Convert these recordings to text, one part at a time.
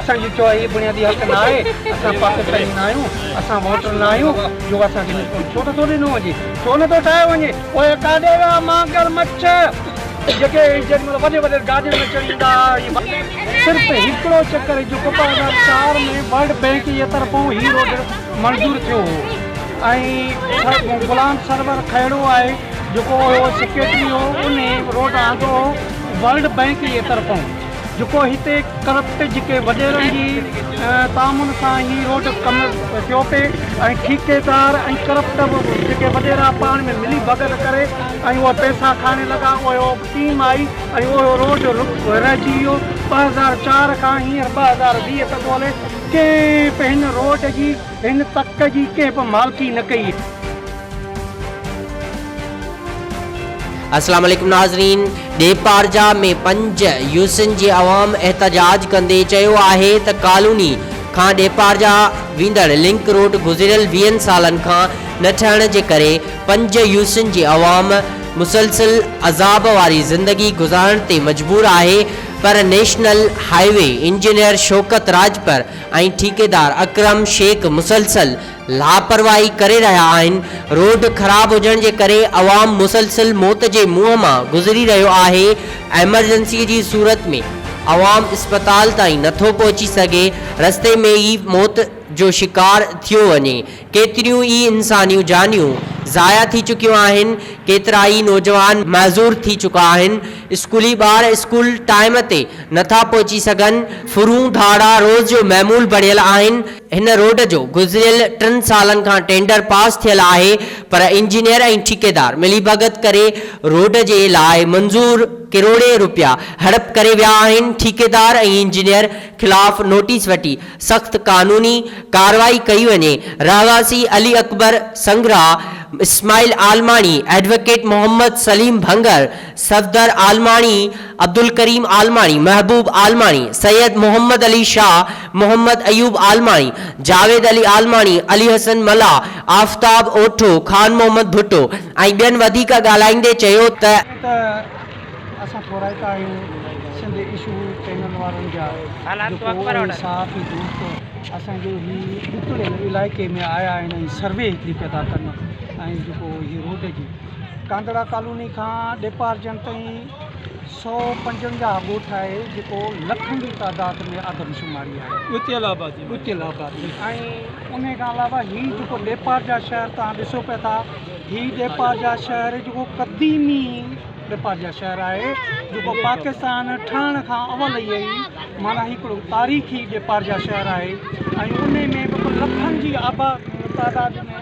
اسان جو چوڻ هي بنيادي حق نه آهي اسان پاڪستاني نه آهيون اسان ووٽر نه آهيون جو اسان کي نشون ڇو نٿو ڏنو وڃي ڇو نٿو ٺاهيو وڃي پوء ڪاڏي ويا ماگر مڇ جيڪي جيڏي مهل وڏي وڏي گاڏين ۾ چڙهي ايندا هئا صرف هڪڙو چڪر جو ٻه هزار چار ۾ ورلڊ بينڪ جي طرفون هي روڊ منظور ٿيو هو ۽ غلام سرور کهڙو آهي جيڪو سيڪريٽري هو انهي روڊ آندو هو ورلڊ بينڪ جي طرفون جيڪو هتي ڪرپٽ جيڪي وڏيرن جي تعامن سان هي روڊ ڪم ٿيو پئي ۽ ٺيڪيدار ۽ ڪرپٽ جيڪي وڏيرا پاڻ ۾ ملي ڀڳت ڪري ۽ اهي پئسا کائڻ لڳا اهو ٽيم آئي ۽ اهو روڊ رهجي ويو ٻه هزار چار کان هينئر ٻه هزار ويهه تڪ هلي ڪنهن به هن روڊ جي هن تڪ جي ڪنهن به مالڪي نه ڪئي. السلام عليڪم ناظرين ڏيپارجا ۾ پنج يوسين جي عوام احتجاج ڪندي چيو آهي ته ڪالوني کان ڏيپارجا ويندڙ لنڪ روڊ گذريل ويهن سالن کان نه ٺهڻ جي ڪري پنج يوسين جي عوام مسلسل عذاب واري زندگي گذارڻ تي مجبور آهي پر national highway engineer Shaukat Rajpar ۽ ٺيڪيدار اڪرم شيخ مسلسل لاپرواهي ڪري رهيا آهن، روڊ خراب هجڻ جي ڪري عوام مسلسل موت جي منهن مان گذري رهيو آهي، ايمرجنسي جي صورت ۾ عوام اسپتال تائين نٿو پهچي سگهي، رستي ۾ ئي موت جو شڪار ٿيو وڃي، ڪيتريون ئي انسانيون جانيون ضايع ٿي چڪيون آهن، ڪيترائي نوجوان معذور ٿي چڪا آهن، اسڪولي ٻار اسڪول ٽائيم تي نٿا پهچي سگهن، ڦرون ڌاڙا روز جو معمول بڻيل آهن، هن روڊ جو گذريل ٽن سالن کان ٽينڊر پاس ٿيل آهي پر انجنيئر ۽ ٺيڪيدار مليڀڳت ڪري روڊ جي لاء منظور ڪروڙين روپيا هڙپ ڪري ويا آهن، ٺيڪيدار ۽ انجنيئر خلاف نوٽيس وٺي سخت قانوني ڪارروائي ڪئي وڃي، رهواسي علي اڪبر سنگرا، اسماعيل عالماڻي، ايڊووڪيٽ محمد سليم ڀنگر، صفدر عالماڻي، عبدالڪريم عالماڻي، محبوب عالماڻي، سيد محمد علي شاهه، محمد ايوب عالماڻي، جاويد علي عالماڻي، علي حسن ملاح، آفتاب اوٺو، خان محمد ڀٽو ۽ ٻين وڌيڪ ڳالهائيندي چيو ته. ائين ته اسان ٿورائتا آهيون سنڌ اشو چينل وارن جا جيڪو اهي صحافي دوست اسان جي هي ڏتڙيل علائقي ۾ آيا آهن ۽ سروي هڪڙي پيا ٿا ڪن ۽ جيڪو هي روڊ جي ڪانڌڙا ڪالوني کان ڏيپارجڻ تائين سؤ پنجونجاهه ڳوٺ آهي جيڪو لکن جي تعداد ۾ آدمشماري آهي ڳتيل آبادي ڳتيل آبادي ۽ انهي کان علاوه هي جيڪو ڏيپارجا شهر توهان ڏسو پيا ٿا هي ڏيپارجا شهر جيڪو قديمي ڏيپارجا شهر آهي جيڪو پاڪستان ٺهڻ کان اول ئي معنيٰ هڪڙو تاريخي ڏيپارجا شهر آهي ۽ انهي ۾ به لکن جي آباد تعداد ۾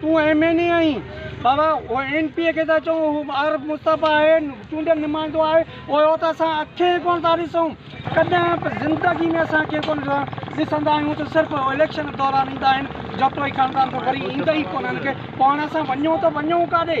تون ايم اين اي آهين بابا اين پي اي کي ٿا چئون هو عارف مصطفيٰ آهي چونڊيل نمائندو آهي اهو ته اسان اکين ئي ڪونه ٿا ڏسون ڪڏهن به زندگي ۾ اسان کي ڪونه ڏسندا آهيون ته صرف اليڪشن دوران ايندا آهن جتوئي خاندان ته وري ايندا ئي ڪونه آهن پاڻ اسان وڃون ته وڃون ڪاڏي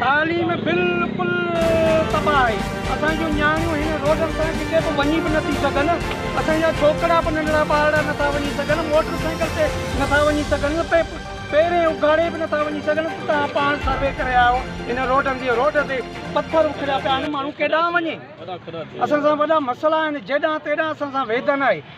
تعليم بلڪل تباھ آھي اسان جون نياڻيون ھن روڊن تان ڪٿي به وڃي به نٿي سگھن اسان جا ڇوڪرا به ننڍڙا ٻارڙا نٿا وڃي سگھن موٽر سائيڪل تي نٿا وڃي سگھن پيرين اگھاڙي به نٿا وڃي سگھن توھان پاڻ سروي ڪري آيو ھن روڊن جي روڊ تي پٿر اکڙيا پيا آھن ماڻھو ڪيڏانھن وڃي اسان سان وڏا مسئلا آھن جيڏانھن تيڏانھن اسان سان ويڌن آھي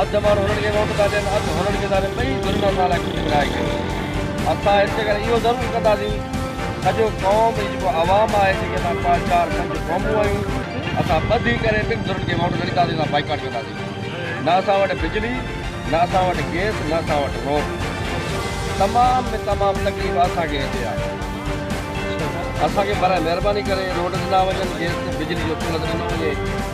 اڌ ماڻهو هنن کي ووٽ ٿا ڏين اڌ هنن کي ٿا ڏين ٻئي ڌرين اسان لاء ڪجهه نه آهي ڪيو اسان هن جي ڪري اهو ضرور ڪنداسين سڄو قوم هي جيڪو عوام آهي جيڪي اسان پنج چار پنج قومون آهيون اسان ٻڌي ڪري ٻن ڌرين کي ووٽ نه ڏينداسين اسان بائيڪاٽ ڪنداسين نه اسان وٽ بجلي نه اسان وٽ گيس نه اسان وٽ روڊ تمام ۾ تمام تڪليف اسان کي هتي آهي اسان کي برائي مهرباني ڪري روڊ ڏنا وڃن گيس بجلي جو سهولت ڏنو وڃي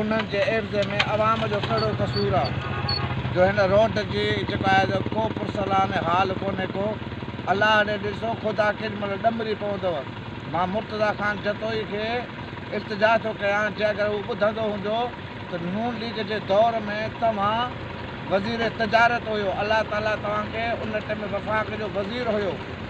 ان جي عيوض ۾ عوام جو ڪهڙو قصور آ جو هن روڊ جي جيڪو آهي سو ڪو پرسلان حال ڪونهي ڪو الله ڙي ڏسو خدا ڪيڏي مهل ڏمري پوندو مان مرتضيٰ خان جتوئي کي التجا ٿو ڪيان جي اگر هو ٻڌندو هوندو ته نون ليگ جي دور ۾ توهان وزير تجارت هيو الله تعالي توهان کي ان ٽئم وفاق جو وزير هيو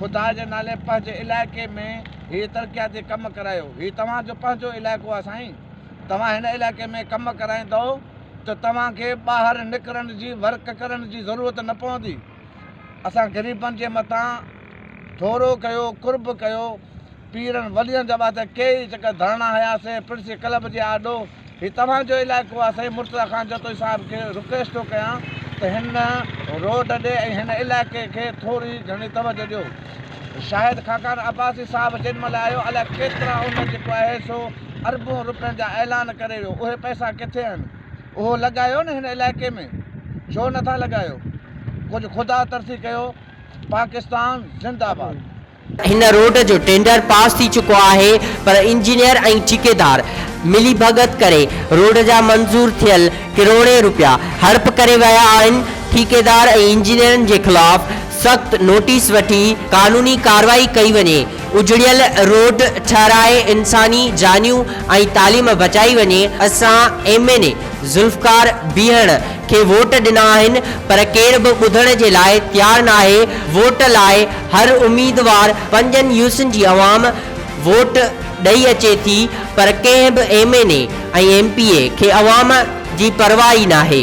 خدا جي نالي پنهنجي علائقي ۾ هي ترقياتي ڪم ڪرايو. هي توهان جو پنهنجو علائقو آهي سائين. توهان هن علائقي ۾ ڪم ڪرائيندؤ ته توهان کي ٻاهر نڪرڻ جي ورڪ ڪرڻ جي ضرورت نه پوندي. اسان غريبن جي مٿان ٿورو ڪيو قرب ڪيو. پيرن ولين جا ٻاجهه ڪيئي چڪر ڌرڻا هنيا سين پرنسي ڪلب جي آڏو هي توهان جو علائقو آ سائين مرتضيٰ خان جتوئي صاحب کي رڪويسٽ ٿو ڪيان ته هن روڊ ڏي ۽ هن علائقي کي ٿوري گهڻي توجه ڏيو شاهد خاقان عباسي صاحب جيڏ مهل آيو الائي ڪيترا ان جيڪو آهي سو اربون روپين جا اعلان ڪري ويو اهي پئسا ڪٿي آهن اهو لڳايو نه هن علائقي ۾ ڇو نه ٿا لڳايو ڪجهه خدا ترسي ڪيو پاڪستان زنده آباد. هن روڊ جو ٽينڊر پاس ٿي چڪو آهي پر انجنيئر ۽ ٺيڪيدار ملي ڀڳت ڪري روڊ جا منظور ٿيل ڪروڙين روپيا هڙپ ڪري ويا آهن، ٺيڪيدار ۽ انجنيئرن جي خلاف سخت نوٽيس وٺي قانوني ڪاروائي ڪئي وڃي، اجڙيل روڊ ٺهرائي انساني جانيون ۽ تعليم بچائي وڃي، اسان M N A Zulfiqar Behan کي ووٽ ڏنا آهن پر ڪير به ٻڌڻ جي لاء تيار ناهي، ووٽ لاء هر اميدوار پنجن يوسين جي عوام ووٽ ڏئي اچي ٿي پر ڪنهن به M N A ۽ M P A کي عوام جي پرواهه ئي ناهي.